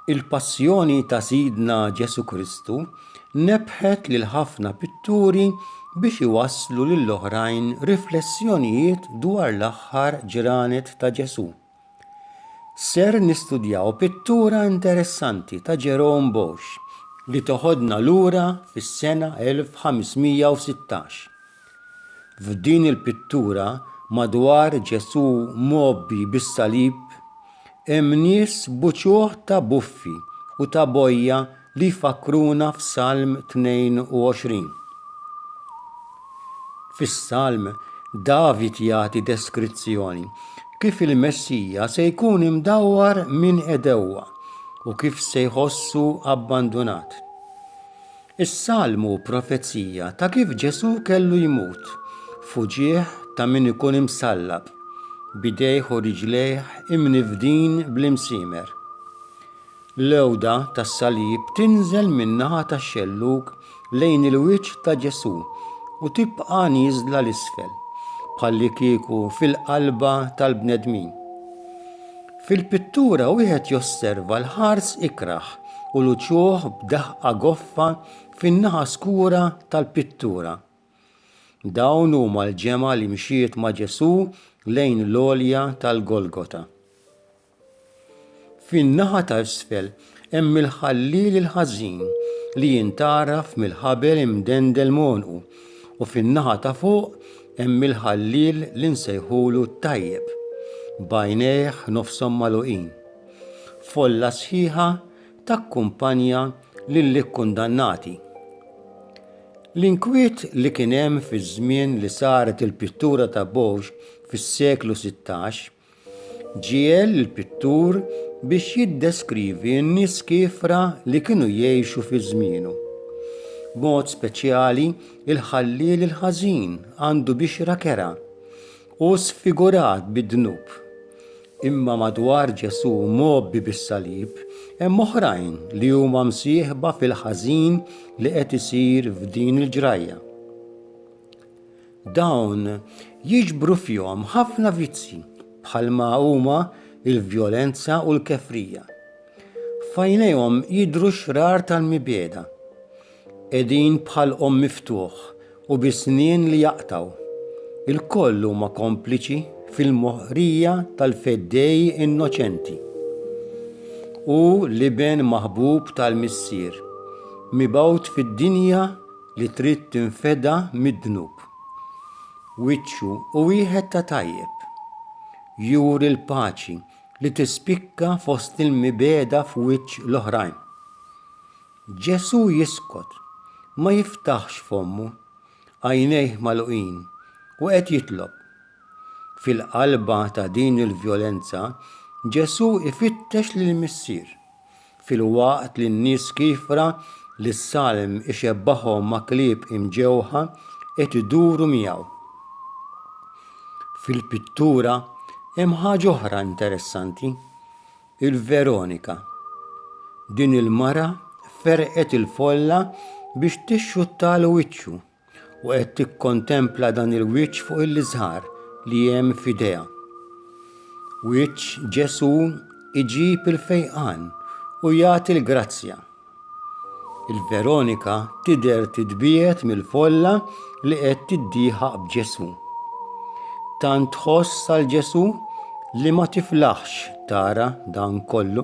Il-Passjoni ta' Sidna Ġesù Kristu nebbħet lil ħafna pitturi biex iwasslu lill-oħrajn riflessjonijiet dwar l-aħħar ġranet ta' Ġesù. Ser nistudjaw pittura interessanti ta' Jerome Bosch li teħodna lura fis-sena 1516. F'din il-pittura madwar Ġesù mgħobbi bis-salib, hemm nies b'uċuħ ta' buffi u ta' bojja li jfakkruna f'Salm 22. Fis-Salm, David jagħti deskrizzjoni kif il-Messija se jkun imdawwar minn għedewwa u kif se jħossu abbandunat. Is-Salm hu profezija ta' kif Ġesù kellu jmut, fuġieħ ta' min ikun imsallab, bidejh u riġlejh imnifdin bl-imsiemer. L-għewda tas-salib tinżel min-naħa tax-xellug lejn il-wiċċ ta' Ġesù u tibqa' nieżla 'l isfel, bħallikieku fil-qalba tal-bnedmin. Fil-pittura wieħed josserva l-ħars ikrah u l-uċuħ b'daħqa goffa fin-naħa skura tal-pittura. Dawn huma l-ġemgħa li mxiet ma' Ġesù lejn l-għolja tal-Golgota. Fin-naħa ta' isfel hemm il-Ħalliel il-Ħażin li jintgħaraf mill-ħabel imdendel m'għonqu u fin-naħa ta' fuq hemm il-Ħalliel li nsejħulu t-Tajjeb, b'għajnejh nofshom magħluqin. Folla sħiħa takkumpanja lill-ikkundannati. L-inkwiet li kien hemm fiż-żmien li saret il-pittura ta' Bouge fis-seklu sittax, Ġiegħel il-pittur biex jiddeskrivi n-nies kiefra li kienu jgħixu fi żmienu. B'mod speċjali, il-ħalliel il-ħażin għandu bixra kerha u sfigurat bid-dnub. Imma madwar Ġesù mgħobbi bis-salib, hemm oħrajn li huma msieħba fil-ħażin li qed isir f'din il-ġrajja. Dawn jiġbru fihom ħafna vizzji bħalma huma l-vjolenza u l-kefrija. F'għajnejhom jidhru xrar tal-mibegħda. Qegħdin bħal qomm miftuħ u bi snien li jaqtgħu. Ilkoll huma kompliċi fil-moħqrija tal-feddej innoċenti. Hu l-Iben maħbub tal-Missier, mibgħut fid-dinja li trid tinfeda mid-dnub. Wiċċu u wieħed ta' tajjeb. Juri l-paċi li tispikka fost il-mibeda f'wiċċ l-oħrajn. Ġesù jiskot, ma jiftaħx fommu, għajnejh magħluqin u qed jitlob. Fil-qalba ta' din il-vjolenza, Ġesù ifittex lill-Missier. filwaqt li n-nies kiefra li s-salm ixebbahom ma' klieb imġewħa qed iduru miegħu. Fil-pittura hemm ħaġa oħra interessanti, il-Veronika. Din il-mara ferqet il-folla biex tixxuttalu wiċċu. u qed tikkontempla dan il-wiċċ fuq il-liżhar li hemm f'idejha. Wiċċ Ġesù iġib il-fejqan u jagħti l-grazzja. Il-Veronika tidher titbiegħed mill-folla li qed tiddieħaq b'Ġesù. Tant tħoss għal Ġesù li ma tiflaħx tara dan kollu.